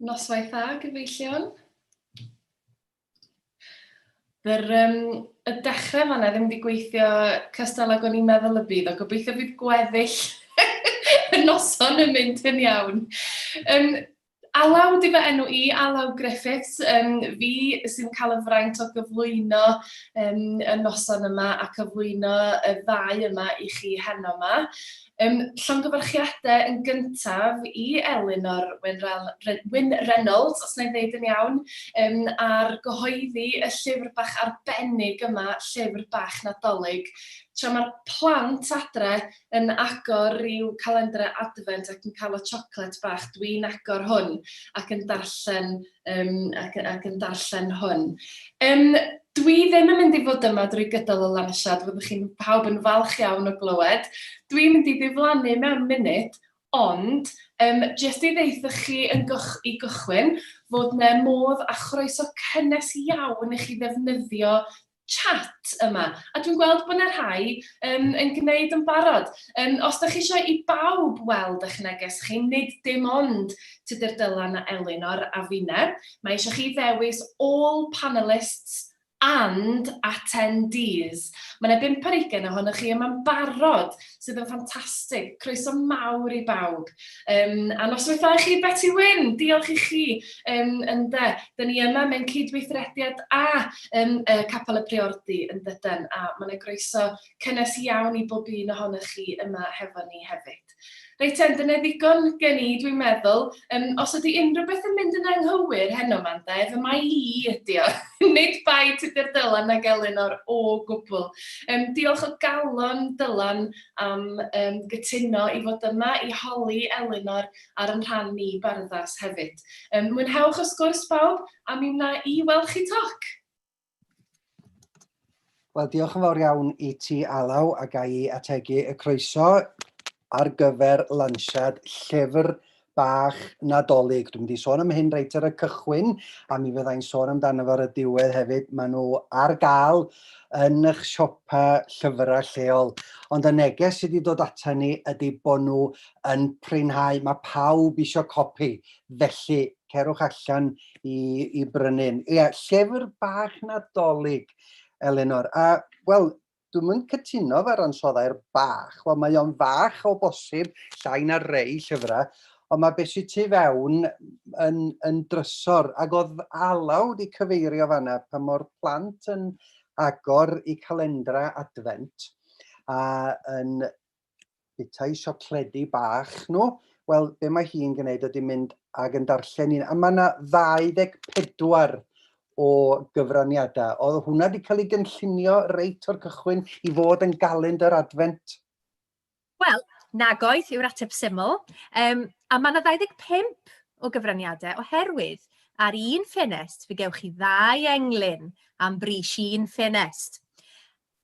Noswaith dda, gyfeillion. Yr, um, y dechrau fanna ddim wedi gweithio cystal ag o'n i'n meddwl y bydd, o gobeithio bydd gweddill y noson yn mynd yn iawn. Um, Alaw di fy enw i, Alaw Griffiths, um, fi sy'n cael y fraint o gyflwyno um, y noson yma a cyflwyno y ddau yma i chi heno yma. Ym llongyfarchiadau yn gyntaf i Elinor Wyn Reynolds, os na i ddeud yn iawn, yym ar gyhoeddi y llyfr bach arbennig yma, Llyfr Bach Nadolig. Tra mae'r plant adre yn agor i'w calendrau Adfent ac yn cael y siocled bach, dwi'n agor hwn ac yn darllen um, ac, ac yn darllen hwn. Um, dwi ddim yn mynd i fod yma drwy gydol y lansiad, fyddwch chi'n pawb yn falch iawn o glywed. Dwi'n mynd i ddiflannu mewn munud, ond um, jyst i ddeithoch chi yn goch, i gychwyn fod yna modd a chroeso cynnes iawn i chi ddefnyddio chat yma, a dwi'n gweld bod yna rhai um, yn gwneud yn barod. Um, os ydych chi eisiau i bawb weld eich neges chi, nid dim ond Tudur Dylan a Elinor a finne, mae eisiau chi ddewis all panelists and attendees. Mae yna bimp ar ugen ohonoch chi yma'n barod sydd yn ffantastig. Croeso mawr i bawb. Um, a noswaith i chi, Betty Wyn, diolch i chi. Um, ynde, dyn ni yma mewn cydweithrediad a um, uh, Capel y Priordy yn dydyn, a mae'n yna groeso cynnes iawn i bob un ohonych chi yma hefo ni hefyd. Reit, ten, dyna ddigon gen i, dwi'n meddwl. Um, os ydy unrhyw beth yn mynd yn anghywir heno ma'n de, fy mae i ydi o. Nid bai Tudur Dylan na Gelyn o'r o gwbl. Yym, diolch o galon, Dylan, am yym gytuno i fod yma i holi Elinor ar yn rhan ni barddas hefyd. Yym, mwynhewch y sgwrs bawb, a mi wna i weld chi toc! Wel, diolch yn fawr iawn i ti, Alaw, a ga i ategu y croeso. ar gyfer lansiad llyfr bach Nadolig. Dwi'n mynd i sôn am hyn reit ar y cychwyn, a mi fyddai'n sôn amdano fo ar y diwedd hefyd. Mae nhw ar gael yn eich siopa llyfrau lleol. Ond y neges sydd wedi dod ata ni ydy bod nhw yn prynhau. Mae pawb eisiau copi, felly cerwch allan i, i brynu'n. Ie, llyfr bach Nadolig, Elinor. A, wel, Dwi'm yn cytuno efo'r ansoddair bach. Wel, mae o'n fach o bosib, llai na rei llyfrau, ond mae beth sydd tu fewn yn, yn drysor. Ac oedd Alaw wedi cyfeirio fanna pa mor plant yn agor i calendra adfent a yn bethau siocledi bach nhw. Wel, be mae hi'n gwneud ydy mynd ag yn darllen un. A mae yna 24 o gyfraniadau. Oedd hwnna wedi cael ei gynllunio reit o'r cychwyn i fod yn galend yr adfent? Wel, nagoedd yw'r ateb syml. Um, a mae yna 25 o gyfraniadau oherwydd ar un ffenest fe gewch chi ddau englyn am bris un ffenest.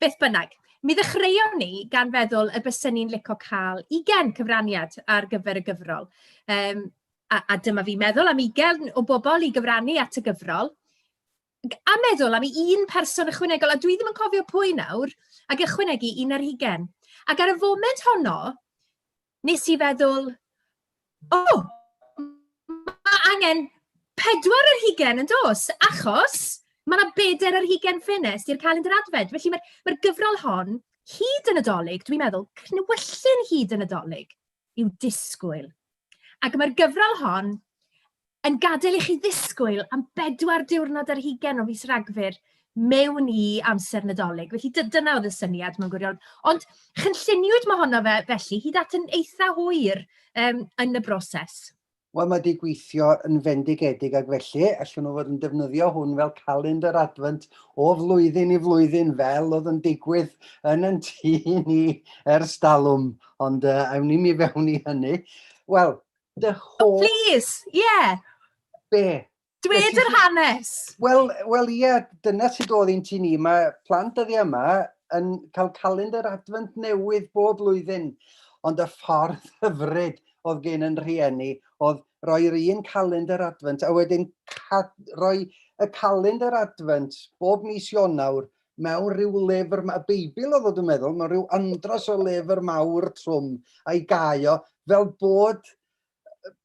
Beth bynnag, mi ddechreuon ni gan feddwl y bysyn ni'n licio cael ugen cyfraniad ar gyfer y gyfrol. Um, a, a dyma fi meddwl am ugen o bobl i gyfrannu at y gyfrol. A meddwl am un person ychwanegol, a dwi ddim yn cofio pwy nawr, ac ychwanegu un ar ugen. Ac ar y foment honno, wnes i feddwl, o, mae angen pedwar yr hugen yn dos, achos mae yna bedair yr hugen ffenest i'r calendr adfed. Felly mae'r mae gyfrol hon, hyd yn y dolyg, dwi'n meddwl, cnwyllyn hyd yn y dolyg, i'w disgwyl. Ac mae'r gyfrol hon Yn gadael i chi ddisgwyl am bedwar diwrnod ar hugain o fis Rhagfyr mewn i amser Nadolig. Felly dy- dyna oedd y syniad mewn gwirionedd. Ond chynlluniwyd mae honno fe, felly hyd at yn eitha hwyr um, yn y broses. Wel, mae wedi gweithio yn fendigedig ac felly allwn nhw fod yn defnyddio hwn fel calendr adfynt o flwyddyn i flwyddyn fel oedd yn digwydd yn yn tu ni ers dalwm, ond uh, awn ni mi fewn i hynny. Wel, dy oh, hoff... Oh, please, ie. Yeah. Be? Dwed yr hanes. Wel, wel ie, yeah, dyna sydd oedd i'n ti ni. Mae plant dyddi yma yn cael calendar adfant newydd bob blwyddyn. Ond y ffordd hyfryd oedd gen yn rhieni oedd roi'r un calendar adfant a wedyn roi y calendar adfant bob mis Ionawr mewn rhyw lyfr, y Beibl oedd o dwi'n meddwl, mewn rhyw andros o lyfr mawr trwm a'i gau o, fel bod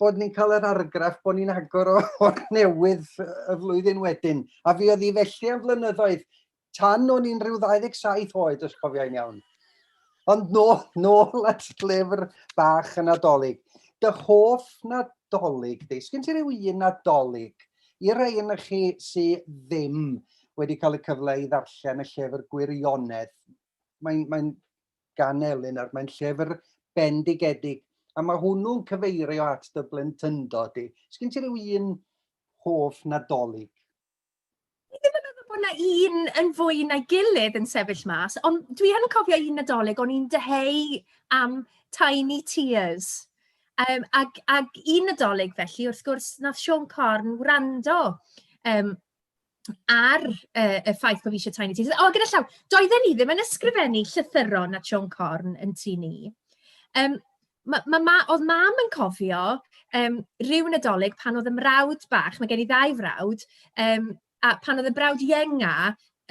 bod ni'n cael yr argraff bod ni'n agor o, o'r newydd y flwyddyn wedyn. A fi oedd i felly am flynyddoedd, tan o'n i'n rhyw 27 oed, os cofiau'n iawn. Ond nôl, nôl at llyfr bach y Nadolig. Dy hoff Nadolig di? Sgyn ti rhyw un Nadolig? I rei yn chi sydd ddim wedi cael y cyfle i ddarllen y llyfr gwirionedd, mae'n mae gan Elin ar mae'n llyfr bendigedig, a mae hwnnw'n cyfeirio at dy blentyndod di. Sgyn ti rhyw un hoff Nadolig? Fi ddim yn meddwl bod yna un yn fwy na'i gilydd yn sefyll mas, ond dwi yn cofio un Nadolig o'n i'n dyheu am Tiny Tears. Yym, ac ac un Nadolig felly, wrth gwrs, wnaeth Siôn Corn wrando yym ar yy y ffaith bod fi eisiau Tiny Tears. O, gyda llaw, doedden ni ddim yn ysgrifennu llythyron at Siôn Corn yn tŷ ni. Yym, ma' ma' ma'... oedd mam yn cofio yym ryw Nadolig pan oedd y mrawd bach, mae gen i ddau frawd, yym, a pan oedd y brawd ienga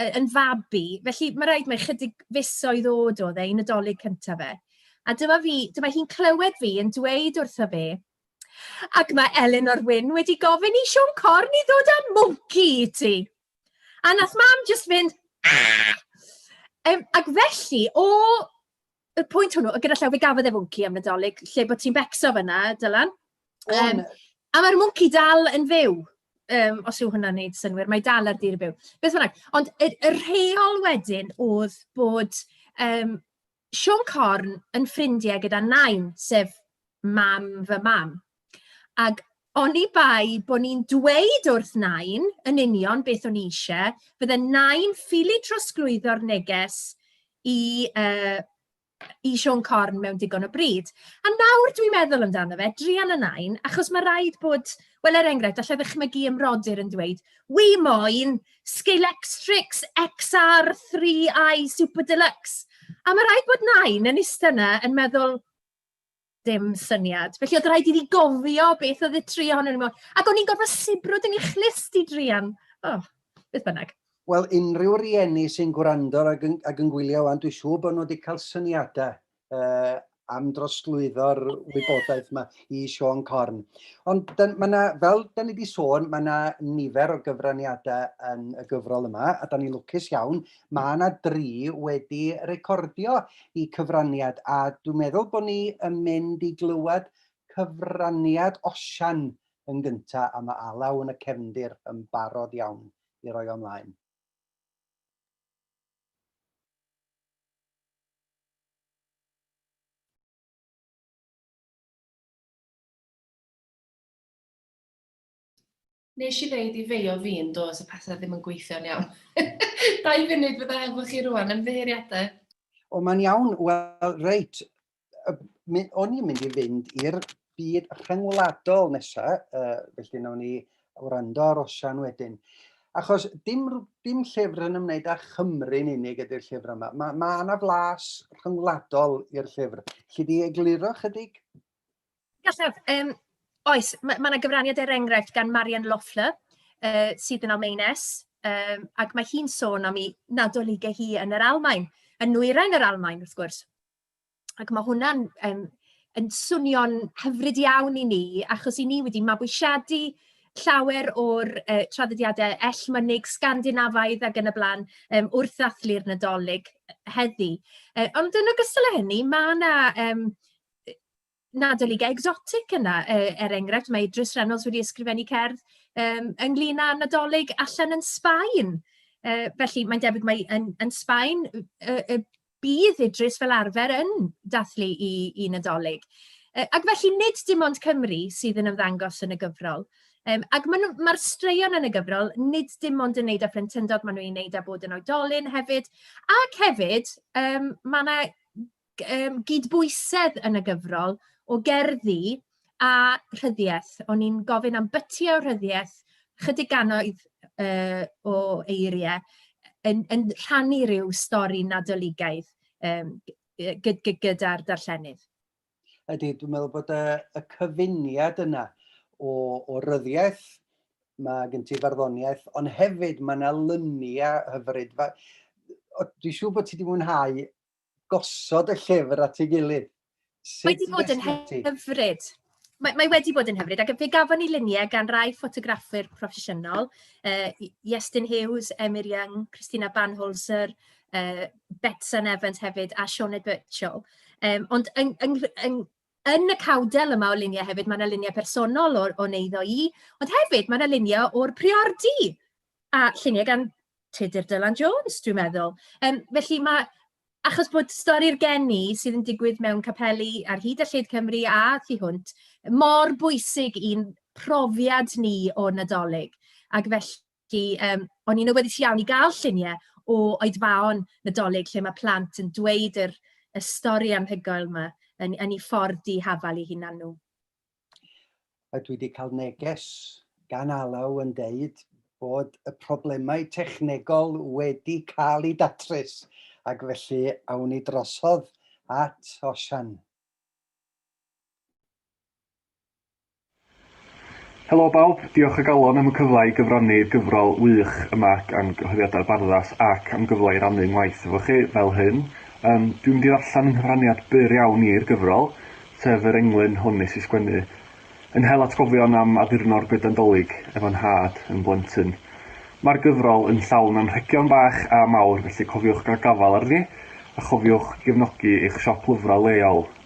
yy yn fabi, felly mae'n rhaid mai chydig fisoedd oed oedd e i Nadolig cyntaf fe. A dyma fi, dyma hi'n clywed fi yn dweud wrtho fe, ac mae Elinor Wyn wedi gofyn i Siôn Corn i ddod â mwnci i ti. A nath mam jyst fynd, Aah! Yym, ac felly, o y pwynt hwnnw, gyda llaw, fe gafodd e fwnci am Nadolig, lle bod ti'n becso fyna, Dylan. Um, a mae'r mwnci dal yn fyw, um, os yw hwnna'n neud synwyr, mae dal ar dir y byw. Beth bynnag, ond y, y rheol wedyn oedd bod um, Sean Corn yn ffrindiau gyda Nain, sef mam fy mam. Ac oni bai bod ni'n dweud wrth Nain yn union beth o'n i eisiau, bydde Nain ffili trosglwyddo'r neges i, uh, i Sean Corn mewn digon o bryd. A nawr dwi'n meddwl amdano fe, drian y Nain, achos mae rhaid bod, wel er enghraifft, allai ddychmygu ymrodyr yn dweud, wi moyn Scalectrix XR3i Super Deluxe. A mae rhaid bod Nain yn eistedd yna yn meddwl, Dim syniad. Felly oedd rhaid i fi gofio beth oedd y tri ohonyn nhw. Ac o'n i'n gorfod sibrwd yn ei chlust i drian. O, oh, beth bynnag. Wel, unrhyw rieni sy'n gwrando ac yn, ac yn gwylio wan, dwi'n siŵr bod nhw wedi cael syniadau uh, am drosglwyddo'r wybodaeth yma i Sean Corn. Ond mae yna, fel da ni wedi sôn, mae yna nifer o gyfraniadau yn y gyfrol yma, a da ni'n lwcus iawn Mae 'na dri wedi recordio i cyfraniad a dwi'n meddwl bod ni yn mynd i glywed cyfraniad Osian yn gynta a mae Alaw yn y cefndir yn barod iawn i roi o ymlaen. Nes i ddeud i feio fi yn do, so pethau ddim yn gweithio'n iawn. Dau funud fydda efo chi rwan, ymddiheuriadau. O, mae'n iawn. Wel, reit. O'n i'n mynd i fynd i'r byd rhyngwladol nesaf, uh, felly nawn ni wrando ar Osian wedyn. Achos dim, dim llyfr yn ymwneud â Chymru'n unig ydy'r llyfr yma. Mae ma yna flas rhyngwladol i'r llyfr. Lly di egluro chydig? Gallaf, yym, oes, ma' ma' 'na gyfraniad er enghraifft gan Marion Loeffler, yy, sydd yn Almaenes, yym, ac mae hi'n sôn am ei Nadolige hi yn yr Almaen, yn nwyrain yr Almaen wrth gwrs, ac ma' hwnna'n yym yn swnio'n hyfryd iawn i ni, achos 'yn ni wedi mabwysiadu llawer o'r yy traddodiadau ell mynyg Sgandinafaidd ac yn y bla'n yym wrth ddathlu'r Nadolig heddi. Yy ond yn ogystal â hynny, ma' 'na yym yy Natalie Ga Exotic yna, yy, er enghraifft, mae Idris Reynolds wedi ysgrifennu cerdd yym ynglyn â Nadolig allan yn Sbaen. Yy, felly mae'n debyg mai yn yn Sbaen y y y bydd Idris fel arfer yn dathlu 'i 'i Nadolig. Yy, ac felly nid dim ond Cymru sydd yn ymddangos yn y gyfrol. Yym, ac maen nhw... mae'r straeon yn y gyfrol nid dim ond yn wneud â phlentyndod, maen nhw'n ei wneud â bod yn oedolyn hefyd, ac hefyd, yym, mae 'na um, gydbwysedd yn y gyfrol o gerddi a rhyddiaeth. O'n i'n gofyn am byty o rhyddiaeth, chydig ganoedd uh, o eiriau, yn, yn rhannu rhyw stori nadoligaidd um, gyda'r darllenydd. Ydy, dwi'n meddwl bod y, y cyfuniad yna o, o ryddiaeth, mae gen ti farddoniaeth, ond hefyd mae yna lyniau hyfryd. Dwi'n siŵr bod ti wedi mwynhau gosod y llyfr at ei gilydd. Sut mae wedi bod yn hyfryd. Mae, mae wedi bod yn hyfryd, ac fe gafon ni luniau gan rai ffotograffwyr proffesiynol, uh, Iestyn Hughes, Emyr Young, Christina Banholzer, uh, Betsan Evans hefyd, a Sioned Birchall. Um, ond yng, yng, yng, Yn y cawdel yma o luniau hefyd, mae yna luniau personol o, o'n eiddo i, ond hefyd mae yna luniau o'r priordi, a lluniau gan Tudur Dylan Jones, dwi'n meddwl. Um, felly mae, achos bod stori'r geni sydd yn digwydd mewn capeli ar hyd a lled Cymru a thu hwnt, mor bwysig i'n profiad ni o Nadolig. Ac felly, Felly, yym, o'n i'n awyddus iawn i gael lluniau o oedfaon Nadolig lle mae plant yn dweud yr y stori anhygoel yma yn yn ei ffordd di-hafal i hunan nhw. A dwi wedi cael neges gan Alaw yn deud bod y problemau technegol wedi cael eu datrys ac felly awn ni drosodd at Osian. Helo bawb, diolch o galon am y cyfle i gyfrannu i'r gyfrol wych yma gan Gyhoeddiadau Barddas ac am gyfle i rannu 'ngwaith efo chi fel hyn. Yym, dwi'n mynd i ddarllen yng nghyfraniad byr iawn i'r gyfrol, sef yr englyn hwn nes i sgwennu yn hel atgofion am addurno'r goeden 'Dolig efo nhad yn blentyn. Mae'r gyfrol yn llawn anrhegion bach a mawr felly cofiwch gael gafael arni a chofiwch gefnogi eich siop lyfrau leol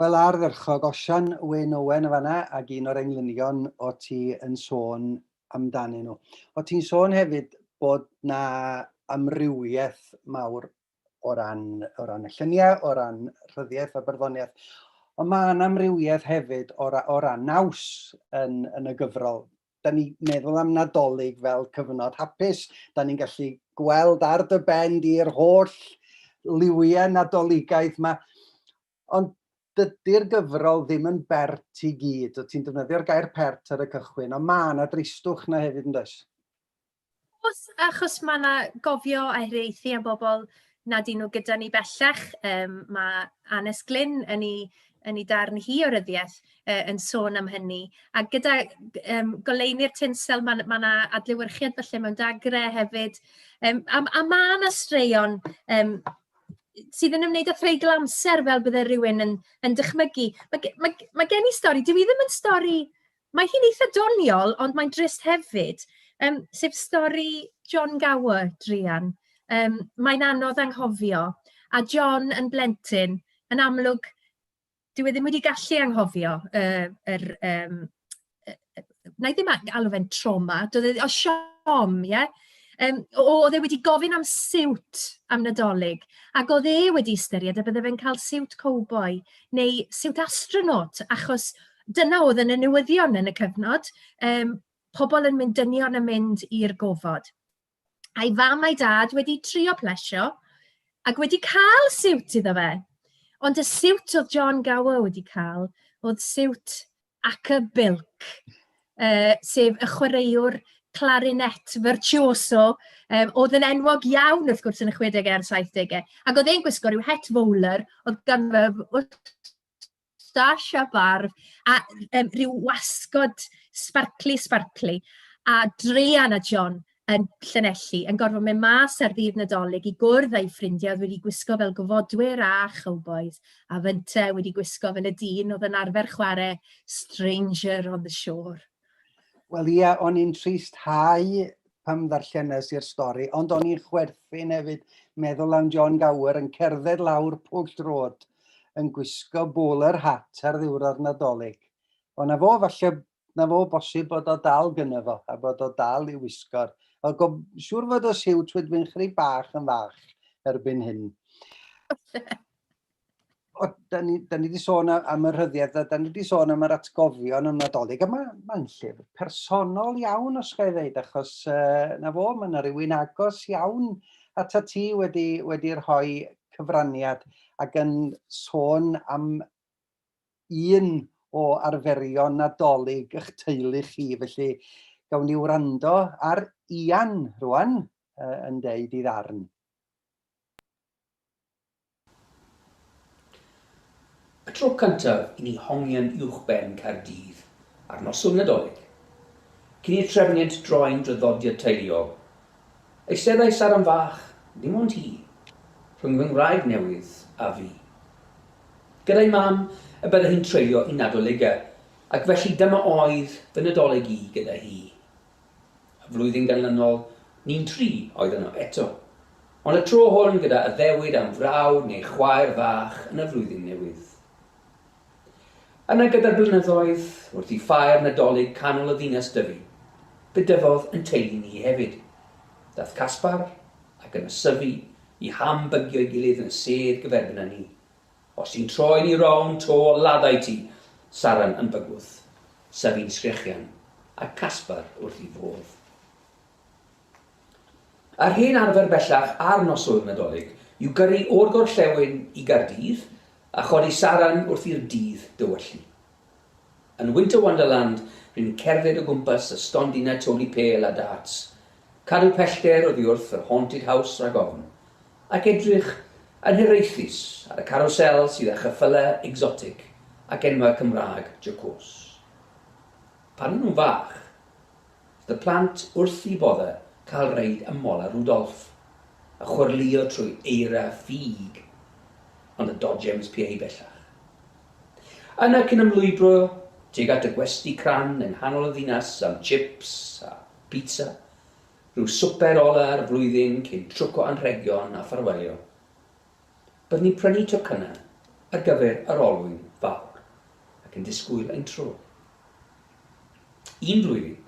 Wel ardderchog, Osian Wyn Owen yn fanna ac un o'r englynion o ti yn sôn amdanyn nhw. O ti'n sôn hefyd bod na amrywiaeth mawr o ran, o ran y lluniau, o ran rhyddiaeth a barddoniaeth, ond mae yna amrywiaeth hefyd o, ra, o ran naws yn, yn y gyfrol. da ni meddwl am Nadolig fel cyfnod hapus. Da ni'n gallu gweld ar dy ben di'r holl liwiau Nadoligaidd yma. Ond dydy'r gyfrol ddim yn bert i gyd. O ti'n defnyddio'r gair pert ar y cychwyn, ond mae yna dristwch na hefyd yn does? Oes, achos mae yna gofio a hiraethu am bobl nad y'n nhw gyda ni bellach. Yym, mae Annes Glyn yn ei yn ei darn hi o ryddiaith yy yn sôn am hynny. A gyda yym goleuni'r tinsel mae mae 'na adlewyrchiad falle mewn dagre hefyd. Yym a a ma' 'na straeon yym sydd yn ymwneud â threigl amser fel bydde rhywun yn yn dychmygu. Ma' ge- ma' ma' gen i stori, dyw hi ddim yn stori Mae hi'n eitha doniol, ond mae'n drist hefyd, yym, sef stori John Gower, druan. Yym, mae'n anodd anghofio, a John yn blentyn, yn amlwg, dyw e ddim wedi gallu anghofio yy yr yym yy yy wna i ddim a- alw fe'n trauma, doedd e... o siom, ie? Yym, o- oedd e wedi gofyn am siwt am Nadolig, ac oedd e wedi ystyried y bydde fe'n cael siwt cowboi neu siwt astronaut, achos... dyna oedd yn y newyddion yn y cyfnod, um, pobl yn mynd dynion yn mynd i'r gofod. A'i fam a'i dad wedi trio plesio ac wedi cael siwt iddo fe. Ond y siwt oedd John Gower wedi cael oedd siwt ac y bilc, uh, sef y chwaraewr clarinet virtuoso, um, oedd yn enwog iawn wrth gwrs yn y 60au a'r 70au. Ac oedd e'n gwisgo rhyw het fowler, oedd gan fe moustache a barf, a um, rhyw wasgod sparcli, sparcli, a Drean a John yn Llanelli yn gorfod mynd mas ar ddydd Nadolig i gwrdd â'i ffrindiau oedd wedi gwisgo fel gofodwyr a chowbois, a fynte wedi gwisgo fel y dyn oedd yn arfer chwarae Stranger on the Shore. Wel ia, o'n i'n trist hau pam ddarllenes i'r stori, ond o'n i'n chwerthin hefyd meddwl am John Gower yn cerdded lawr pwll drod yn gwisgo bowler hat ar ddiwrnod nadolig. O, na fo, falle na fo bosib bod o dal gyna fo, a bod o dal i wisgo'r... O, go, siŵr fod o siwt wedyn chri bach yn fach erbyn hyn. o, da ni, da ni wedi sôn am y rhyddiaith, da, da ni wedi sôn am yr atgofion yn nadolig, a mae'n ma llyfr personol iawn os gael ddeud, achos uh, na fo, mae yna rhywun agos iawn at y ti wedi, wedi rhoi cyfraniad ac yn sôn am un o arferion nadolig eich teulu chi, felly gawn ni wrando ar Ian rwan uh, yn deud i ddarn. Y tro cyntaf i ni hongian uwchben Caerdydd ar noson Nadolig. Cyn i'r trefniant droi'n draddodiad teuluol, eisteddai Saran fach, dim ond hi, rhwng fy ngwraig newydd a fi. Gyda'i mam y byddai hi'n treulio'i Nadoligau, ac felly dyma oedd fy Nadolig i gyda hi. Y flwyddyn ganlynol, ni'n dri oedd yno eto. Ond y tro hwn gyda addewid am frawd neu chwaer fach yn y flwyddyn newydd. Yna gyda'r blynyddoedd, wrth i ffair Nadolig canol y ddinas dyfu, fe dyfodd yn teulu ni hefyd. Dath Caspar, ac yn ysyfu, i ham bygio'i gilydd yn y sedd gyferbyn â ni. Os ti'n troi'n i rownd to laddai ti Saran yn bygwth, Sefy'n sgrechian, a Caspar wrth i fodd. Yr hen arfer bellach ar noswyl Nadolig yw gyrru o'r gorllewin i Gaerdydd a chodi Saran wrth i'r dydd dywyllu. Yn Winter Wonderland, rwy'n cerdded o gwmpas y stondinau tori pêl a darts, cadw pellter oddi wrth yr Haunted House rhag ofn, ac edrych yn hiraethus ar y carwsel sydd â cheffylau egsotig ac enwau Cymraeg jocôs. Pan o'n nhw'n fach, roedd y plant wrth eu boddau cael reid ym Mola Rudolph, a chwyrlïo trwy eira ffug, ond y dodgems PA bellach. Yna cyn ymlwybro tuag at y gwesty crand yng nghanol y ddinas am chips a bîtsa, rhyw swper ola'r flwyddyn cyn trwc o anrhegion a ffarwelio. Byddwn ni'n prynu tocynnau ar gyfer yr olwyn fawr ac yn disgwyl ein tro. Un flwyddyn,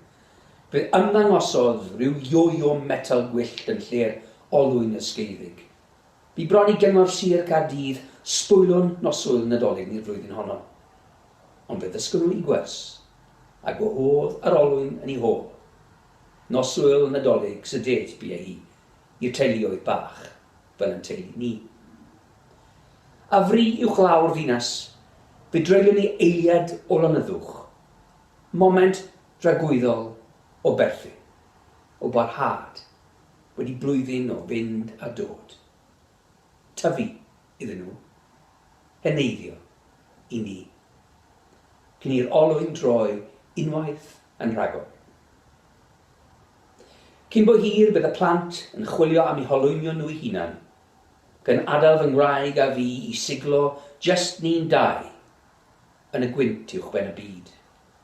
fe ymddangosodd rhyw yo-yo metal gwyllt yn lle'r olwyn ysgeiddig. Bu bron i Gyngor Sir Caerdydd sbwylio'n noswyl Nadolig ni'r flwyddyn honno. Ond fe ddysgon nhw i gwers, a gwahodd yr olwyn yn ei hôl. Noswyl Nadolig sydyd bu hi i'r teuluoedd bach, fel yn teulu ni. A fri uwchlaw'r ddinas, fe dreulion ni eiliad o lonyddwch, moment dragwyddol o berthyn, o barhad, wedi blwyddyn o fynd a dod, tyfu iddyn nhw, heneiddio i ni, cyn i'r olwyn droi unwaith yn rhagor. Cyn bo hir bydd y plant yn chwilio am eu holwynion nhw'u hunan, gan adael fy ngwraig a fi i siglo jyst ni'n dau yn y gwynt uwchben y byd.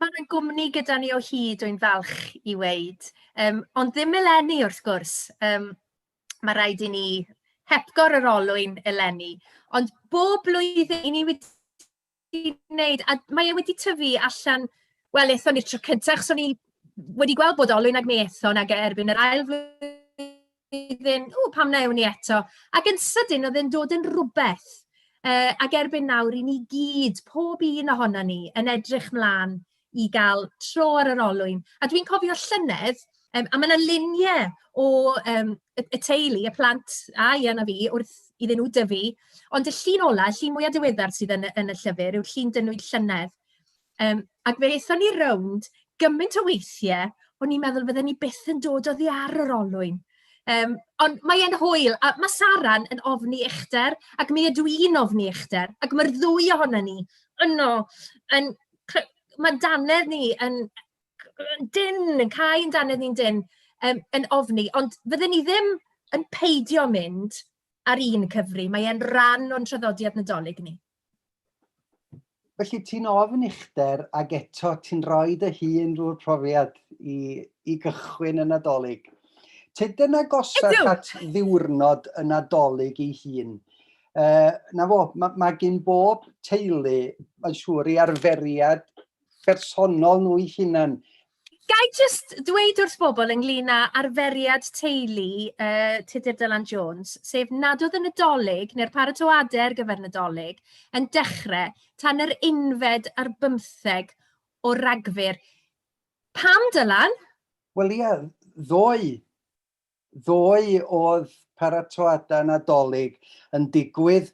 Mae yna gwmni gyda ni o hyd, dwi'n falch i weud, um, ond ddim eleni wrth gwrs. Um, mae rhaid i ni hepgor yr olwyn eleni. Ond bob blwyddyn i ni wedi gwneud, a mae e wedi tyfu allan, wel, ethon ni tro cyntaf, achos o'n i wedi gweld bod olwyn ag mi ethon ag e erbyn yr ail flwyddyn iddyn nhw, pam na ewn ni eto? Ac yn sydyn oedd e'n dod yn rywbeth. Yy, ac erbyn nawr, 'y ni gyd, pob un ohonon ni, yn edrych mlaen i gael tro ar yr olwyn. A dwi'n cofio llynedd, yym, a ma' 'na luniau o yym y y teulu, y plant, a Ian a fi, wrth iddyn nhw dyfu, ond y llun ola', y llun mwya' diweddar sydd yn y yn y llyfr, yw'r llun 'dyn nhw 'd llynedd. Yym, ac fe aethon ni rownd gymaint o weithie, o'n i'n meddwl fydden ni byth yn dod oddi ar yr olwyn. Yym, ond mae e'n hwyl, a ma' Sara'n yn ofni uchder, ac mi ydw i'n ofni uchder, ac ma'r ddwy ohonon ni yno yn cly- ma' 'n dannedd ni yn yn dynn, yn cau 'n dannedd ni'n dynn yym yn ofni, ond fydden ni ddim yn peidio mynd ar un cyfri, mae e'n ran o'n traddodiad Nadolig ni. Felly ti'n ofn uchder ac eto ti'n rhoi dy hun drwy'r profiad i, i gychwyn y Nadolig. Tydyn agosach Ydw. at ddiwrnod y Nadolig ei hun. Uh, na fo, mae ma gen bob teulu, mae'n siŵr, i arferiad bersonol nhw'i hunan. Ga i jyst dweud wrth bobl ynglyn â arferiad teulu yy Tudur Dylan Jones, sef nad oedd y Nadolig, neu'r paratoadau ar gyfer Nadolig, yn dechrau tan yr unfed ar bymtheg o Ragfyr. Pam, Dylan? Wel ia, ddoe Ddoe oedd paratoadau Nadolig yn digwydd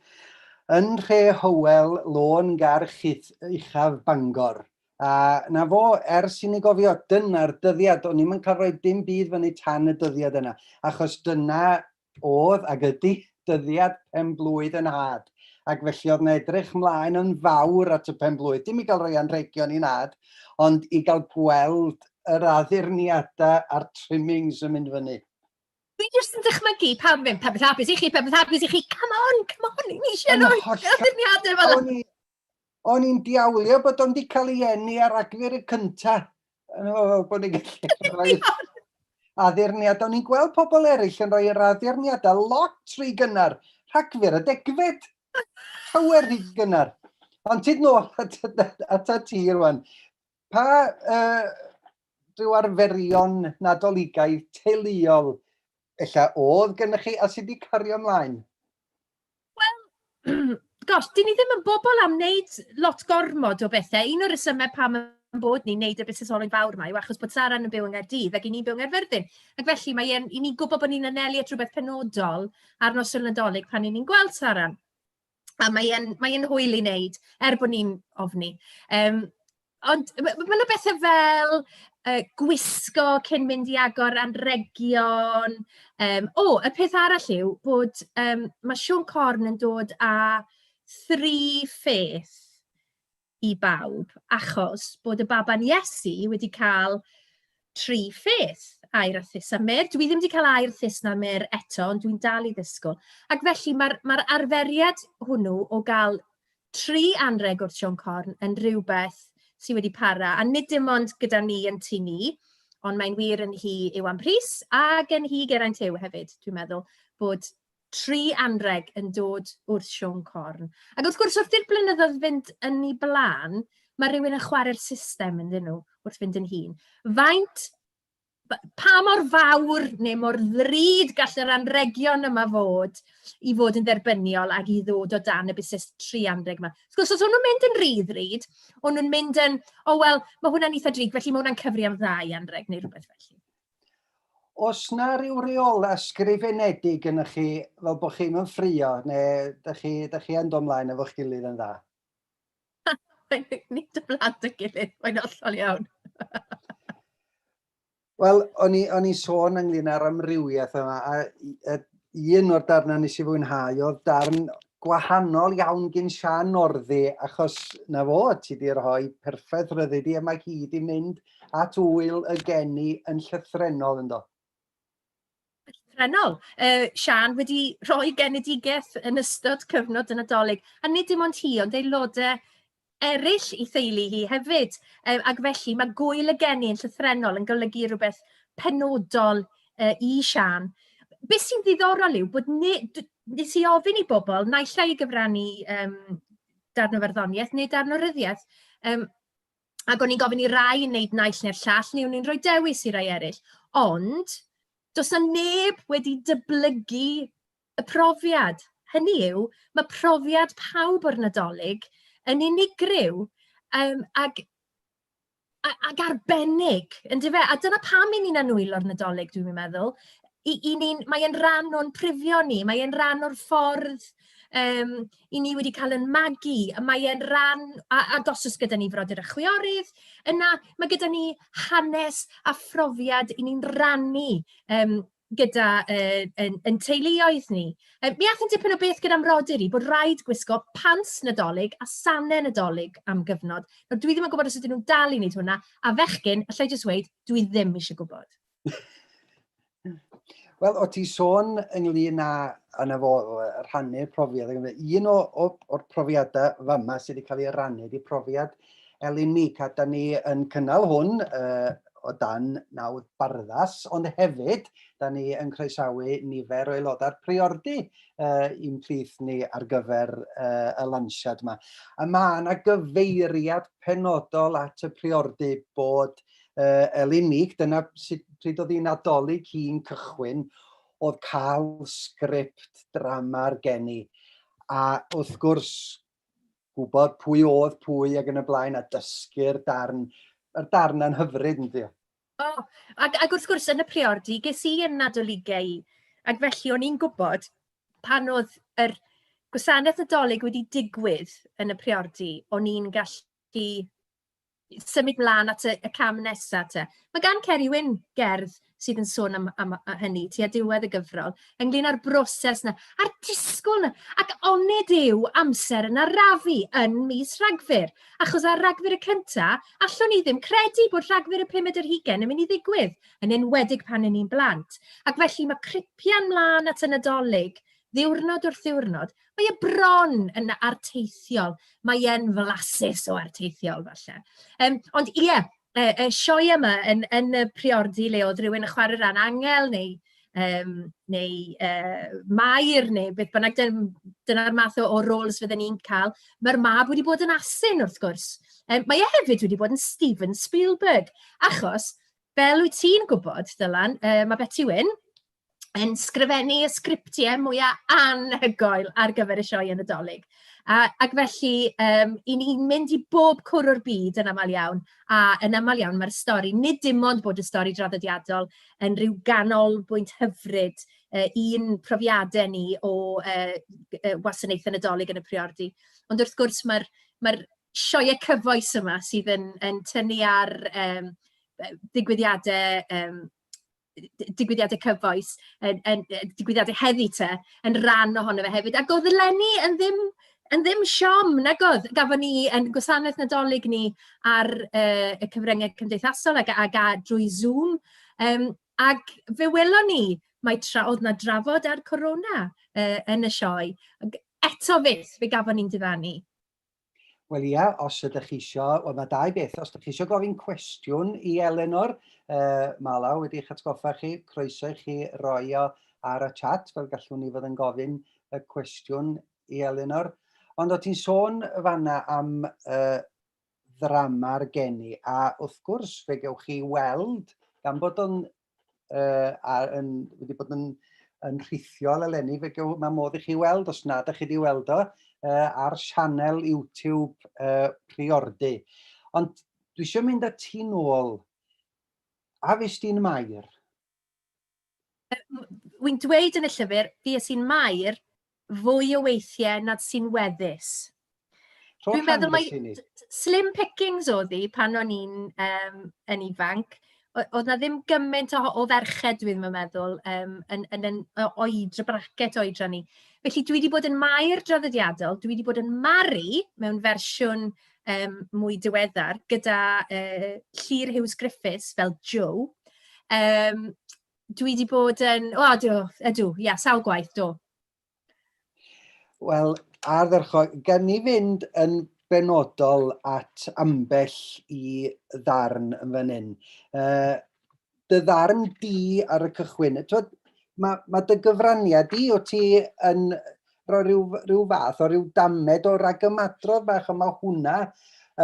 yn nhre Hywel Lôn Garch Uchaf Bangor a 'na fo ers i ni gofio, dyna'r dyddiad, o'n i'm yn cael rhoi dim byd fyny tan y dyddiad yna achos dyna oedd, ac ydi, dyddiad pen-blwydd y nhad, ac felly oedd 'na edrych 'mlaen yn fawr at y pen-blwydd, dim i gael rhoi anrhegion i nhad, ond i gael gweld yr addurniadau a'r trimmings yn mynd fyny. Dwi jyst yn dychmygu pan fydd pethau hapus i chi, pethau hapus i chi, come on, come on, ni eisiau rhoi addurniadau fel yna. O'n i'n diawlio bod o'n di cael ei enni ar agfyr y cynta. Bod ni'n gallu rhoi addurniad. O'n i'n gweld pobl eraill yn rhoi yr addurniadau lot rhy gynnar. Rhagfyr y degfed. Llawer rhy gynnar. Ond ti'n nôl at, at y ti rwan. Pa uh, rhyw arferion nadoligaidd teuluol ella oedd gennych chi a sydd wedi cario ymlaen? Wel, gosh, 'dyn ni ddim yn bobl am wneud lot gormod o bethe. Un o'r rhesymau pam ein bod ni'n wneud y busnes olwyn fawr 'ma yw achos bod Sara'n yn byw yng Nghaerdydd ac 'y ni'n byw yng Nghaerfyrddin. Ac felly, mae e'n... 'y ni'n gwybod bod ni'n anelu at rywbeth penodol ar noson Nadolig pan 'y ni'n gweld Sara. A mae e'n mae e'n hwyl i wneud, er bod ni'n ofni. Yym. Ond ma' ma' 'na bethe fel, yy, gwisgo cyn mynd i agor anrhegion, yym... O! Y peth arall yw bod, yym, ma' Siôn Corn yn dod â thri pheth i bawb, achos bod y baban Iesu wedi cael tri pheth, aur a phys a myrrh. Dwi ddim 'di cael aur, phys na myrrh eto, ond dwi'n dal i ddisgwyl. Ac felly, ma'r ma'r arferiad hwnnw o gael tri anrheg o'r Sion Corn yn rhywbeth sydd wedi para, a nid dim ond gyda ni yn tu ni, ond mae'n wir yn hi yw am Rhys ac yn hi Geraint Huw hefyd, dwi'n meddwl, bod tri anrheg yn dod wrth Sion Corn. Ac wrth gwrs, wrth i'r blynyddoedd fynd yn ei blaen, mae rhywun yn chwarae'r system ynddyn nhw wrth fynd yn hyn. Faint pa mor fawr neu mor ddrud gall yr anregion yma fod i fod yn dderbyniol ac i ddod o dan y busnes tri anreg yma. Wrth gwrs, os o'n nhw'n mynd yn rhydd ryd, o'n nhw'n mynd yn, o oh, wel, mae hwnna'n eitha drig, felly mae hwnna'n cyfri am ddau anreg neu rhywbeth felly. Os na rhyw reol ysgrifenedig yn chi fel bod chi'n ymffrio neu ydych chi, ydych chi yn dod ymlaen efo'ch gilydd yn dda? Nid y plant ei gilydd, mae'n hollol iawn. Wel, o'n i, on i sôn ynglyn â'r amrywiaeth yma, a, a un o'r darnau nes i fwynhau oedd darn gwahanol iawn gyn Sian Orddi, achos na fo, ti di rhoi perffaith ryddi di, a mae hi di mynd at wyl y geni yn llythrenol ynddo. Llythrennol. Uh, Sian wedi rhoi genedigaeth yn ystod cyfnod y Nadolig, a nid dim ond hi, ond aelodau eraill i theulu hi hefyd. Uh, ac felly mae gwyl y geni yn llythrennol yn golygu rhywbeth penodol uh, i Sian. Be sy'n ddiddorol yw bod ni, nes i ofyn i bobl naill ai i gyfrannu um, darn o farddoniaeth neu darn o ryddiaeth, um, ac o'n i'n gofyn i rai yn wneud naill neu'r llall, neu o'n i'n rhoi dewis i rai eraill. Ond, does 'na neb wedi dyblygu y profiad. Hynny yw, mae profiad pawb o'r Nadolig yn unigryw, yym, ac a ac arbennig, yndyfe? A dyna pam 'y ni'n annwylo'r Nadolig, dwi'm yn meddwl. I i ni'n... mae e'n rhan o'n prifio ni, mae e'n rhan o'r ffordd yym 'y ni wedi cael ein magu, a mae e'n ran a- ac os oes gyda ni frodyr a chwiorydd, yna ma' gyda ni hanes a phrofiad 'yn ni'n rannu yym gyda yy ein ein teuluoedd ni. Yy mi aeth yn dipyn o beth gyda 'mrodyr i, bod raid gwisgo pants Nadolig a sanau Nadolig am gyfnod. Nawr dwi ddim yn gwybod os ydyn nhw'n dal i wneud hwnna, a fechgyn, alla i jyst weud, dwi ddim isie gwybod. Wel, o ti sôn ynglyn â yna fo rhannu'r profiad, un o, o, o'r profiadau fama sydd wedi cael ei rannu, di profiad Elin Meek, a da ni yn cynnal hwn uh, o dan nawdd barddas, ond hefyd, da ni yn croesawu nifer o aelodau'r priordy uh, i'n plith ni ar gyfer uh, y lansiad yma. A mae yna gyfeiriad penodol at y priordy bod uh, uh, Elinig, dyna sut pryd oedd hi'n adolyg hi'n cychwyn, oedd cael sgript drama ar gen i. A wrth gwrs, gwybod pwy oedd pwy ac yn y blaen, a dysgu'r darn, yr darn yn hyfryd yn ddiol. O, oh, ac, ac wrth gwrs yn y priordy, ges i yn adolygu ac felly o'n i'n gwybod pan oedd yr gwasanaeth adolyg wedi digwydd yn y priordy, o'n i'n gallu symud mlaen at y y cam nesa te. Ma' gan Ceri Wyn gerdd sydd yn sôn am am yy hynny tua diwedd y gyfrol, ynglŷn â'r broses 'na, a'r disgwyl 'na, ac onid yw amser yn arafu yn mis Rhagfyr? Achos ar Ragfyr y cynta, allwn ni ddim credu bod Rhagfyr y pumed ar hugain yn mynd i ddigwydd, yn enwedig pan 'yn ni'n blant. Ac felly ma' cripian mlan at y Nadolig ddiwrnod wrth ddiwrnod, mae e bron yn arteithiol. Mae e'n flasus o arteithiol, falle. Um, ond ie, yeah, y, y sioe yma yn, yn y priordi le oedd rhywun yn chwarae rhan angel neu, um, neu uh, mair neu beth bynnag, dyna'r math o, o roles fydden ni'n cael. Mae'r mab wedi bod yn asyn, wrth gwrs. Um, mae e hefyd wedi bod yn Steven Spielberg, achos, fel wyt ti'n gwybod, Dylan, uh, mae Betty Wyn, yn sgrifennu y sgriptiau mwya anhygoel ar gyfer y sioeau Nadolig. A ac felly, yym, 'y ni'n mynd i bob cwr o'r byd yn aml iawn, a yn aml iawn mae'r stori, nid dim ond bod y stori draddodiadol yn rhyw ganolbwynt hyfryd, yy, i'n profiadau ni o, yy, g- yy, wasanaethau Nadolig yn y priordy, ond wrth gwrs mae'r mae'r sioeau cyfoes yma sydd yn yn tynnu ar, yym, yy, ddigwyddiadau, yym, d- digwyddiadau cyfoes, yn yn yy digwyddiadau heddi te, yn ran ohono fe hefyd. Ac oedd eleni yn ddim yn ddim siom, nag oedd? Gafon ni ein gwasanaeth Nadolig ni ar yy y cyfryngau cymdeithasol ac ac a- drwy Zoom, yym, ac fe welon ni mai tra oedd 'na drafod ar Corona yy yn y sioe, ag eto fyth fe gafon ni'n diddanu. Wel ia, os ydych chi isio, wel mae dau beth, os ydych chi isio gofyn cwestiwn i Elenor, uh, mae law wedi eich atgoffa chi, croeso i chi roi o ar y chat, fel gallwn ni fod yn gofyn y cwestiwn i Elenor. Ond o ti'n sôn fanna am uh, ddrama'r geni, a wrth gwrs fe gewch chi weld, gan bod o'n uh, a yn, wedi bod yn, yn rhithiol eleni, fe gyw, mae modd i chi weld, os nad ydych chi wedi weld o, uh, ar sianel YouTube uh, Priordy. Ond dwi eisiau mynd â ti nôl. A fes ti'n mair? Wy'n dweud yn y llyfr, fi ys i'n mair, fwy o weithiau nad sy'n weddus. Dwi'n meddwl mai slim pickings oedd hi pan o'n i'n um, yn ifanc. Oedd na ddim gymaint o, o ferched, dwi'n meddwl, um, yn, yn, yn, yn oed, y bracet oedran ni. Felly dwi wedi bod yn maer draddodiadol, dwi wedi bod yn maru mewn fersiwn um, mwy diweddar gyda uh, Llyr Hughes Griffiths fel Joe. Um, dwi 'di bod yn... O, do, ydw, ia, sawl gwaith, do. Wel, ardderchog, gan ni fynd yn benodol at ambell i ddarn yn fan hyn. Uh, dy ddarn di ar y cychwyn, twyd, mae, mae dy gyfraniad di, o ti yn rhoi rhyw, rhyw fath o rhyw damed o ragymadrodd bach, ond mae hwnna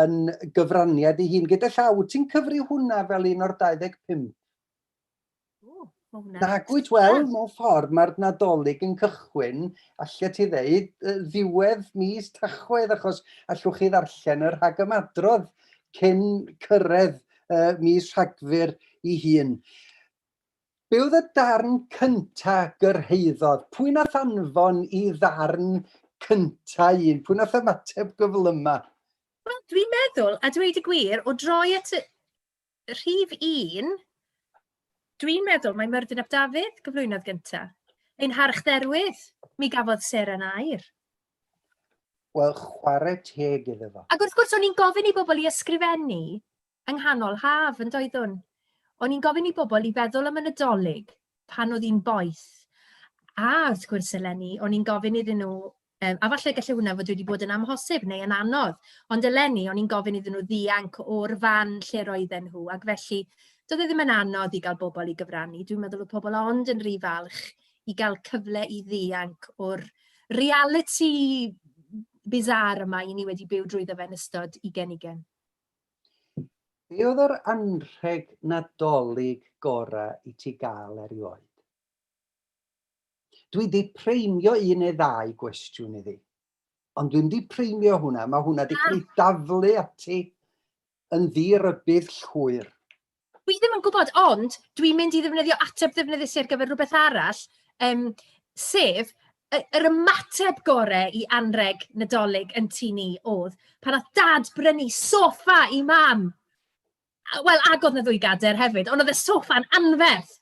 yn gyfraniad i hun. Gyda llaw, ti'n cyfri hwnna fel un o'r 25? Nagwyt, wel, ah. mewn ffordd, mae'r Nadolig yn cychwyn, allet ti ddeud, ddiwedd mis Tachwedd, achos allwch chi ddarllen yr rhagymadrodd cyn cyrraedd uh, mis Rhagfyr i hun. Be oedd y darn cynta gyrhaeddodd? Pwy nath anfon i ddarn cynta un? Pwy nath ymateb gyflyma? Wel, dwi'n meddwl, a dweud y gwir, o droi at y Rhif un, dwi'n meddwl mae Myrddin ap Dafydd gyflwynodd gyntaf. Ein harchdderwydd, mi gafodd Seren air. Wel, chwarae teg iddo fo. Ac wrth gwrs, o'n i'n gofyn i bobl i ysgrifennu yng nghanol haf yn doeddwn. O'n i'n gofyn i bobl i feddwl am y Nadolig pan oedd hi'n boeth. A wrth gwrs eleni, o'n i'n gofyn iddyn nhw Yym, a falle gallai hwnna fod wedi bod yn amhosib neu yn anodd, ond eleni o'n i'n gofyn iddyn nhw ddianc o'r fan lle roedden nhw, ac felly doedd e ddim yn anodd i gael bobl i gyfrannu. Dwi'n meddwl oedd pobl ond yn rhy falch i gael cyfle i ddianc o'r realiti bizarre yma i ni wedi byw drwyddo fe yn ystod i genigen. Be oedd yr anrheg Nadolig gorau i ti gael erioed? Dwi 'di preimio un neu ddau gwestiwn iddi. Ond dwi'n di preimio hwnna, mae hwnna wedi cael ei daflu ati yn ddirybydd llwyr. Dwi ddim yn gwybod, ond dwi'n mynd i ddefnyddio ateb ddefnyddus ar gyfer rhywbeth arall, um, sef yr ymateb gore i anreg nadolig yn tu ni oedd pan oedd dad brynu sofa i mam. Wel, ac oedd 'na ddwy gadair hefyd, ond oedd y soffa'n anferth.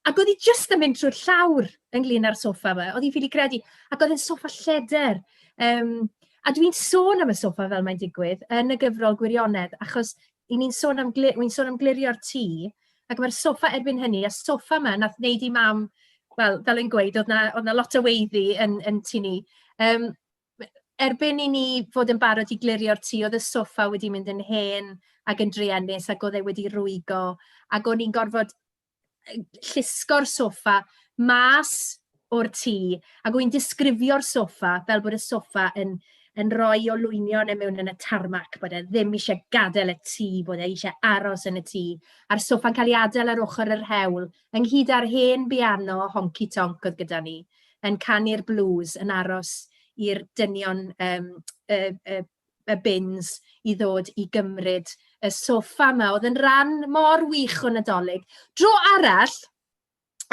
Ac oedd hi jyst yn mynd trwy'r llawr ynglyn â'r soffa fe, oedd hi'n ffili credu. Ac oedd e'n soffa lleder. Um, a dwi'n sôn am y soffa fel mae'n digwydd yn y gyfrol gwirionedd, achos i ni'n sôn am, glir, sôn am glirio'r tŷ, ac mae'r soffa erbyn hynny, a soffa yma nath wneud i mam, wel, fel yn gweud, oedd na, oedd na lot o weiddi yn, yn tu ni. Um, erbyn i ni fod yn barod i glirio'r tŷ, oedd y soffa wedi mynd yn hen ac yn druenus ac oedd e wedi rwygo, ac o'n i'n gorfod yy llusgo'r soffa mas o'r tŷ, ac o'n i'n disgrifio'r soffa fel bod y soffa yn yn rhoi olwynion e mewn yn y tarmac, bod e ddim isie gadael y tŷ, bod e isie aros yn y tŷ, a'r soffa'n cael ei adael ar ochr yr hewl, ynghyd â'r hen biano honci tonc oedd gyda ni, yn canu'r blues, yn aros i'r dynion um, y, y, y bins i ddod i gymryd y sofa yma. Oedd yn rhan mor wych o Nadolig. Dro arall,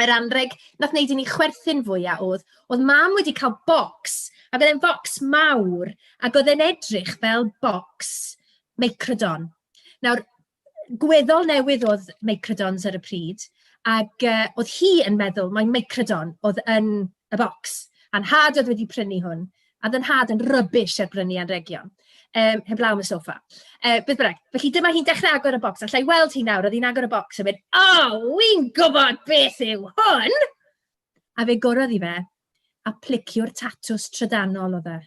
yr anreg nath wneud i ni chwerthin fwyaf oedd, oedd mam wedi cael bocs, ac oedd e'n focs mawr, ac oedd e'n edrych fel bocs meicrodon. Nawr, gweddol newydd oedd microdons ar y pryd, ac uh, oedd hi yn meddwl mai microdon oedd yn y bocs, a'n had oedd wedi prynu hwn, a ddyn had yn rybish ar brynu anregion, um, heblaw am y sofa. Uh, beth bynnag, felly dyma hi'n dechrau agor y bocs, allai weld hi nawr, oedd hi'n agor y bocs a mynd, o, oh, wy'n gwybod beth yw hwn! A fe gorodd i fe, a plicio'r tatws trydanol o dde.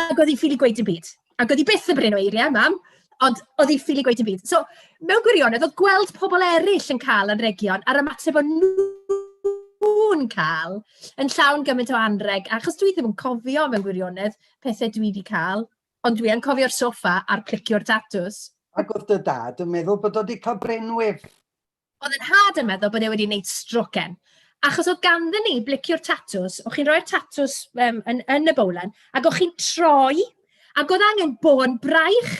ac oedd hi'n ffili gweud dim byd. Ac oedd hi byth yn brin o eiriau, mam, ond oedd hi'n ffili gweud dim byd. So, mewn gwirionedd, oedd gweld pobl eraill yn cael anrhegion a'r ymateb o'n nhw'n cael yn llawn gymaint o anrheg, achos dwi ddim yn cofio mewn gwirionedd pethau dwi wedi cael, ond dwi yn cofio'r sofa a'r clicio'r tatws. Ac oedd dy dad yn meddwl bod o wedi cael brenwif. Oedd yn hard yn meddwl bod e wedi wneud stroken. Achos oedd ganddyn ni bliciwr tatws, o'ch chi'n rhoi'r tatws um, yn, yn y bowlen, ac o'ch chi'n troi, ac oedd angen bôn braich,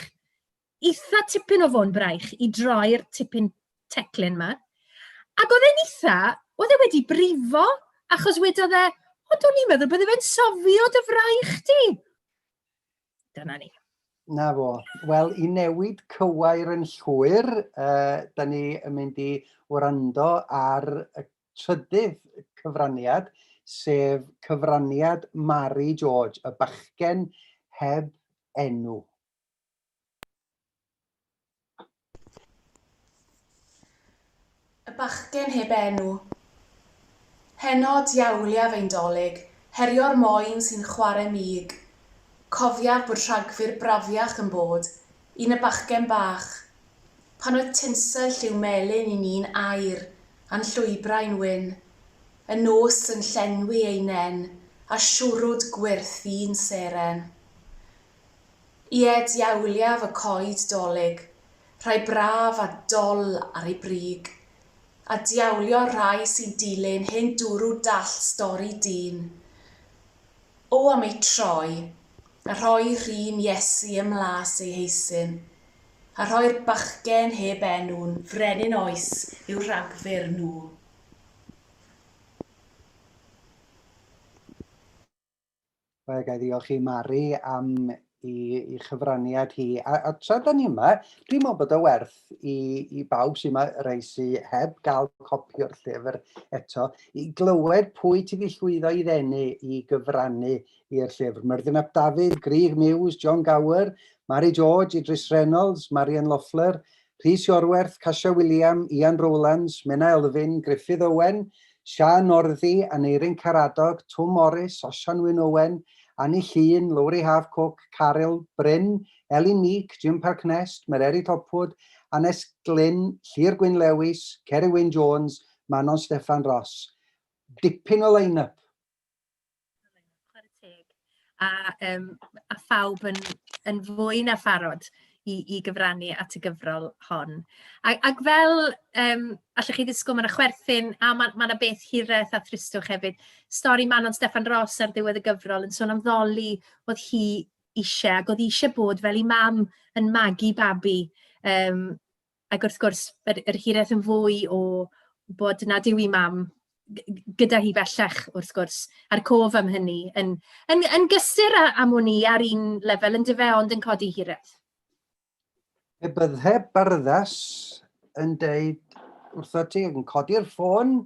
eitha tipyn o fôn braich, i droi'r tipyn teclyn yma. Ac oedd e'n eitha, oedd e wedi brifo, achos wedodd e, o, do'n i'n meddwl bod e'n sofio dy fraich di. Dyna ni. Na fo. Wel, i newid cywair yn llwyr, uh, da ni yn mynd i wrando ar y trydydd cyfraniad, sef cyfraniad Mari George, y bachgen heb enw. Y bachgen heb enw. Heno, diawliaf ein 'Dolig, herio'r moen sy'n chware mig. Cofiaf bod Rhagfyr brafiach yn bod i na bachgen bach. Pan oedd tinsel lliw melyn i ni'n air a'n llwybrau'n wyn. Y nos yn llenwi ei nen â siwrwd gwyrth fu'n seren. Ie, diawliaf y coed 'Dolig, rhai braf a dol ar eu brig, A diawlio'r rhai sy'n dilyn hen dwrw Dallt stori dyn O am eu troi, a rhoi rhun Iesu ym mlas ei heisyn, A rhoi'r bachgen heb enw'n frenin Oes i'w rhagfyr nhw. Wel, gael ddiolch i Mari am i, i chyfraniad hi. A, a tra da ni yma, dwi'n meddwl bod o werth i, i bawb sy'n yma, rei sy'n heb gael copi o'r llyfr eto, i glywed pwy ti wedi llwyddo i ddenu i gyfrannu i'r llyfr. Myrddin ap Dafydd, Grig Mewes, John Gower, Mari George, Idris Reynolds, Marian Loeffler, Rhys Iorwerth, Kasia William, Ian Rowlands, Menna Elfyn, Gruffydd Owen, Siân Northy, Aneurin Karadog, Twm Morris, Osian Wyn Owen, Anni Llŷn, Lowri Haf Cook, Caryl, Bryn, Elin Meek, Jim Parknest, Mererid Hopwood, Annes Glyn, Llŷr Gwyn Lewis, Ceri Wyn Jones, Manon Steffan Ross. Dipyn o line-up! Chwarae teg. A yym a phawb yn yn fwy na pharod i i gyfrannu at y gyfrol hon. A- ac fel yym allwch chi ddisgwyl ma' 'na chwerthin a ma' ma' 'na beth hiraeth a thristwch hefyd. Stori Manon Steffan Ros ar ddiwedd y gyfrol yn sôn am ddoli o'dd hi isie ac o'dd hi isie bod fel 'i mam yn magu babi yym Ac wrth gwrs, yr yr hiraeth yn fwy o bod nad yw ei mam g- g- gyda hi bellach, wrth gwrs, a'r cof am hynny, yn yn yn gysur â am wn i ar un lefel yndyfe, fe, ond yn codi hiraeth. Pe bydde barddas yn deud wrtho ti yn codi'r ffôn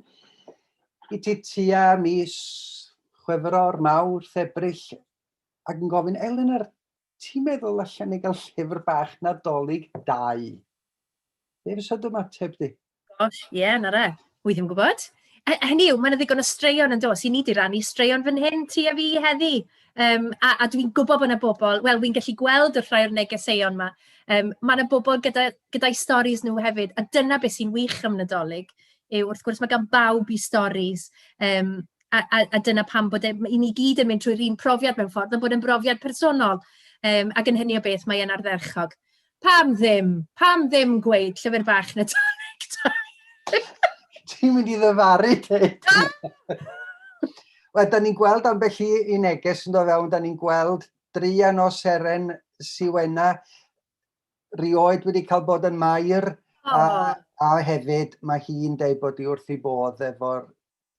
i ti tua mis chwefror, mawr, thebrill, ac yn gofyn, Elin, yr Ti'n meddwl allan ni gael llyfr bach Nadolig dau? Be fysa dy ymateb di? Gosh, ie, yeah, na re. Wy ddim yn gwybod. E, hynny yw, mae'n ddigon o straeon yn dos. I ni di rannu straeon fan hyn, ti a fi heddi. Um, a a dwi'n gwybod bod yna bobl, wel, fi'n gallu gweld wrth rhai o'r negeseuon yma, um, mae yna bobl gyda, gyda'i storys nhw hefyd, a dyna beth sy'n wych am Nadolig, yw wrth gwrs mae gan bawb i storys, um, a a a dyna pam bod e... i ni i gyd yn mynd trwy'r un profiad mewn ffordd, ond bod e'n brofiad personol. Yym, ac yn hynny o beth, mae e'n ardderchog. Pam ddim? Pam ddim gweud llyfr bach Nadolig da? Ti'n mynd i ddyfaru, Kate? Wel, da ni'n gweld ambell i i neges yn dod fewn, da ni'n gweld dreian o seren siwena rioed wedi cael bod yn mair, a, a hefyd mae hi'n dweud bod hi wrth ei bodd efo'r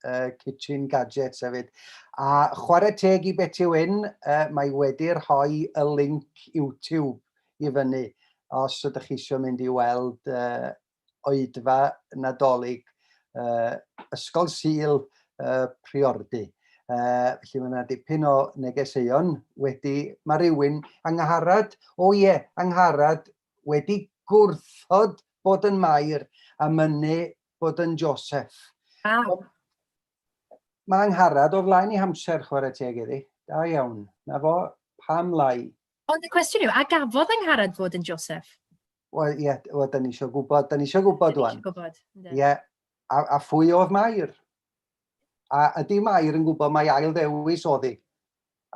uh, kitchen gadgets hefyd. A chwarae teg i Betty Wyn, uh, mae wedi rhoi y link YouTube i fyny os ydych chi eisiau mynd i weld uh, oedfa nadolig uh, Ysgol Sil uh, Priordy. Uh, felly mae yna dipyn o negeseuon wedi, mae rhywun angharad, o ie, angharad, wedi gwrthod bod yn mair a mynnu bod yn Joseph. Ah. Mae Angharad o flaen i hamser chwarae teg iddi. Da iawn. Na fo, pam lai? Ond y cwestiwn yw, a gafodd Angharad fod yn Joseph? Wel, ie, yeah, well, da ni eisiau gwybod, da ni eisiau gwybod da ni gwybod, Ie, yeah. a, a phwy oedd Mair? A ydy Mair yn gwybod mae ail ddewis oddi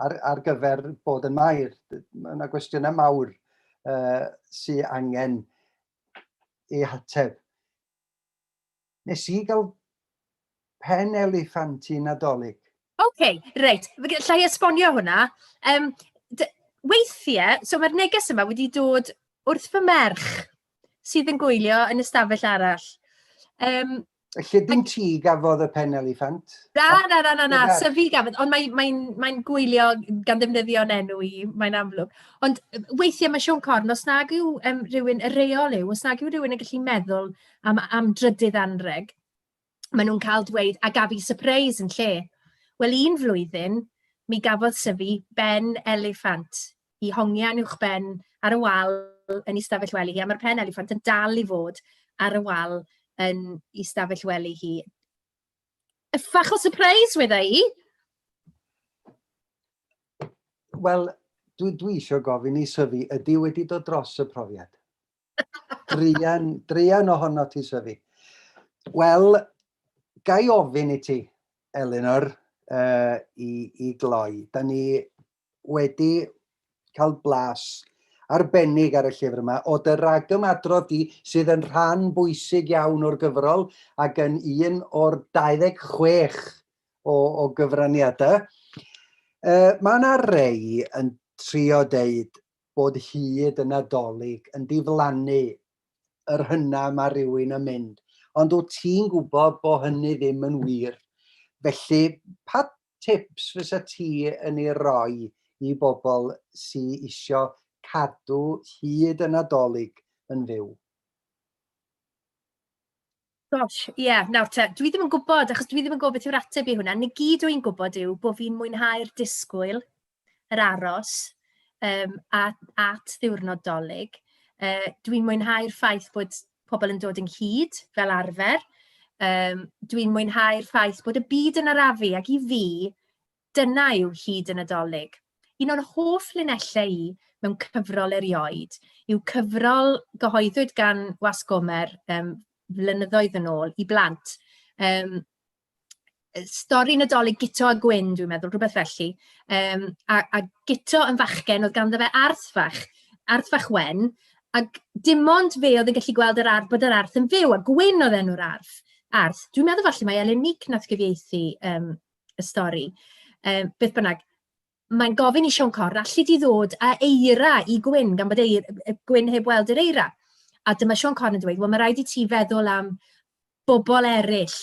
ar, ar gyfer bod yn Mair? Mae yna gwestiynau mawr uh, sy'n angen ei hateb. Nes i gael pen eliffant i Nadolig. Oce, okay, reit. Lla i esbonio hwnna. Um, weithiau, so mae'r neges yma wedi dod wrth fy merch sydd yn gwylio yn ystafell arall. Um, Y llibyn ti gafodd y pen eliffant? Na, na, na, na, na. So fi gafodd, ond mae'n mae, mae, mae gwylio gan ddefnyddio'n enw i, mae'n amlwg. Ond weithiau mae Sean Corn, os nag yw um, rhywun, y reol yw, os nag yw rhywun yn gallu meddwl am, am drydydd anreg, maen nhw'n cael dweud, a gaf i surprise yn lle. Wel, un flwyddyn, mi gafodd syfu ben eliffant. i hongian uwchben ar y wal yn ei stafell wely hi, a ma'r pen eliffant yn dal i fod ar y wal yn ei stafell wely hi. Y fach o surprise, weda i! Wel, dwi, dwi eisiau gofyn i Syfi, ydy wedi dod dros y profiad? Drian, drian ohono ti, Syfi. Wel, gai ofyn i ti, Elinor, uh, i, i gloi. Da ni wedi cael blas arbennig ar y llyfr yma o dy ragymadrodd di sydd yn rhan bwysig iawn o'r gyfrol ac yn un o'r 26 o, o gyfraniadau. Uh, mae yna rei yn trio deud bod hyd y Nadolig yn diflannu yr hynna mae rhywun yn mynd. Ond wyt ti'n gwybod bod hynny ddim yn wir. Felly, pa tips fysa ti yn ei roi i bobl sydd eisiau cadw hyd y Nadolig yn fyw? Gosh, ie, yeah, nawr te, dwi ddim yn gwybod, achos dwi ddim yn gwybod beth yw'r ateb i hwnna. Nid gyd o'n i'n gwybod yw bod fi'n mwynhau'r disgwyl yr aros yym at at ddiwrnod Dolig. Yy, dwi'n mwynhau'r ffaith bod pobl yn dod ynghyd fel arfer. Yym, dwi'n mwynhau'r ffaith bod y byd yn arafu, ac i fi, dyna yw hyd y Nadolig. Un o'r hoff linellau i mewn cyfrol erioed yw cyfrol gyhoeddwyd gan Wasg Gomer um, flynyddoedd yn ôl i blant. Um, stori Nadolig Guto a Gwyn, dwi'n meddwl, rhywbeth felly. Um, a, a Guto yn fachgen, oedd ganddo fe arth fach, arth fach wen, ac dim ond fe oedd yn gallu gweld yr arth, bod yr arth yn fyw, a Gwyn oedd enw'r arth. arth. Dwi'n meddwl falle mae Elen Nick nath gyfieithu um, y stori. Um, beth bynnag, mae'n gofyn i Siôn Corn, alli di ddod a eira i Gwyn, gan bod eir, Gwyn heb weld yr eira. A dyma Siôn Corn yn dweud, wel mae rhaid i ti feddwl am bobl eraill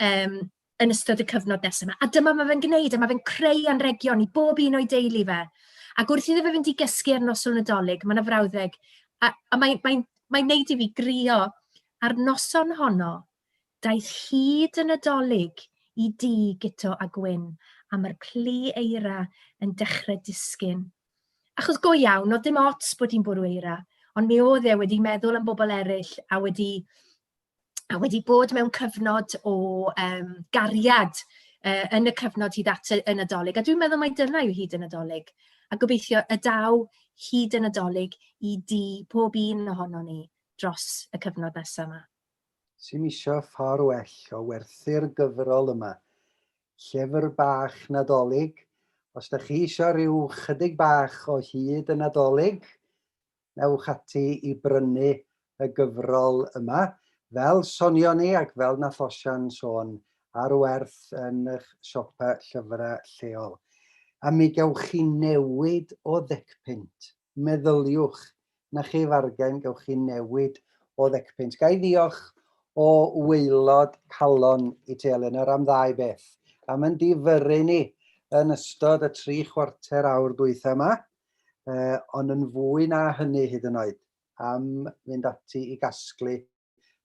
um, yn ystod y cyfnod nesaf yma. A dyma mae fe'n gwneud, a mae fe'n creu anregion i bob un o'i deulu fe. Ac wrth iddo fe fynd i gysgu ar noson nadolig, mae yna frawddeg, a, a mae'n mae, mae wneud i fi grio ar noson honno, Daeth hyd y Nadolig i dŷ Guto a Gwyn a mae'r plu eira yn dechrau disgyn. Achos go iawn, oedd dim ots bod hi'n bwrw eira, ond mi oedd e wedi meddwl am bobl eraill a wedi, a wedi bod mewn cyfnod o um, gariad uh, yn y cyfnod hyd at y Nadolig. A dwi'n meddwl mai dyna yw hyd y Nadolig. A gobeithio y daw hyd y Nadolig i di pob un ohono ni dros y cyfnod nesaf yma. sy'n isio ffordd well o werthu'r gyfrol yma. Llyfr bach Nadolig, os da chi isio rhyw chydig bach o hyd y Nadolig, newch ati i brynu y gyfrol yma. Fel sonio ni ac fel na Thosian sôn, ar werth yn eich siopa llyfrau lleol. A mi gewch chi newid o ddecpunt. Meddyliwch, 'na chi fargen, gewch chi newid o ddecpunt. Ga i ddiolch o waelod calon i ti Eleanor am ddau beth. Am yn difyrru ni yn ystod y tri chwarter awr dwytha yma, uh, ond yn fwy na hynny hyd yn oed, am fynd ati i gasglu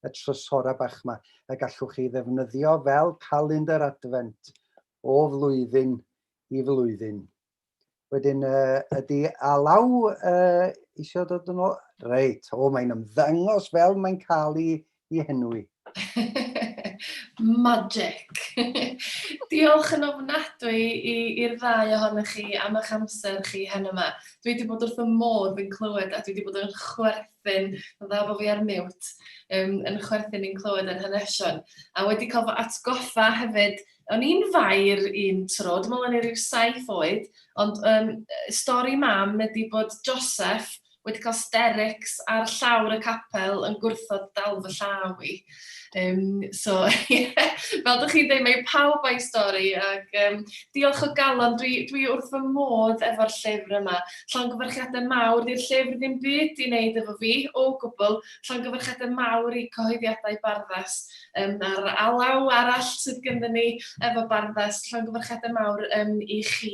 y trysora bach yma y gallwch chi ddefnyddio fel calendr adfent o flwyddyn i flwyddyn. Wedyn, uh, ydy alaw uh, eisiau dod yn ôl? Reit, o, mae'n ymddangos fel mae'n cael ei, ei henwi. Magic! Diolch yn ofnadwy i'r ddau ohonych chi am eich amser chi hen yma. Dwi wedi bod wrth y modd yn clywed a dwi wedi bod yn chwerth chwerthin, mae'n dda bod fi ar mute, um, yn chwerthin i'n clywed yr hanesion. A wedi cael fy atgoffa hefyd, o'n i'n fair un tro, dwi'n meddwl o'n i rhyw saith oed, ond um, stori mam ydy bod Joseph wedi cael sterics ar llawr y capel yn gwrthod dal fy llaw i. Um, so, yeah, fel ydych chi'n dweud, mae pawb a'i stori, ac um, diolch o galon, dwi, dwi wrth fy modd efo'r llyfr yma. Llongyfarchiadau mawr, di'r llyfr ddim byd i wneud efo fi, o gwbl. Llongyfarchiadau mawr i cyhoeddiadau barddas um, a'r alaw arall sydd gyda ni efo barddas. Llongyfarchiadau mawr um, i chi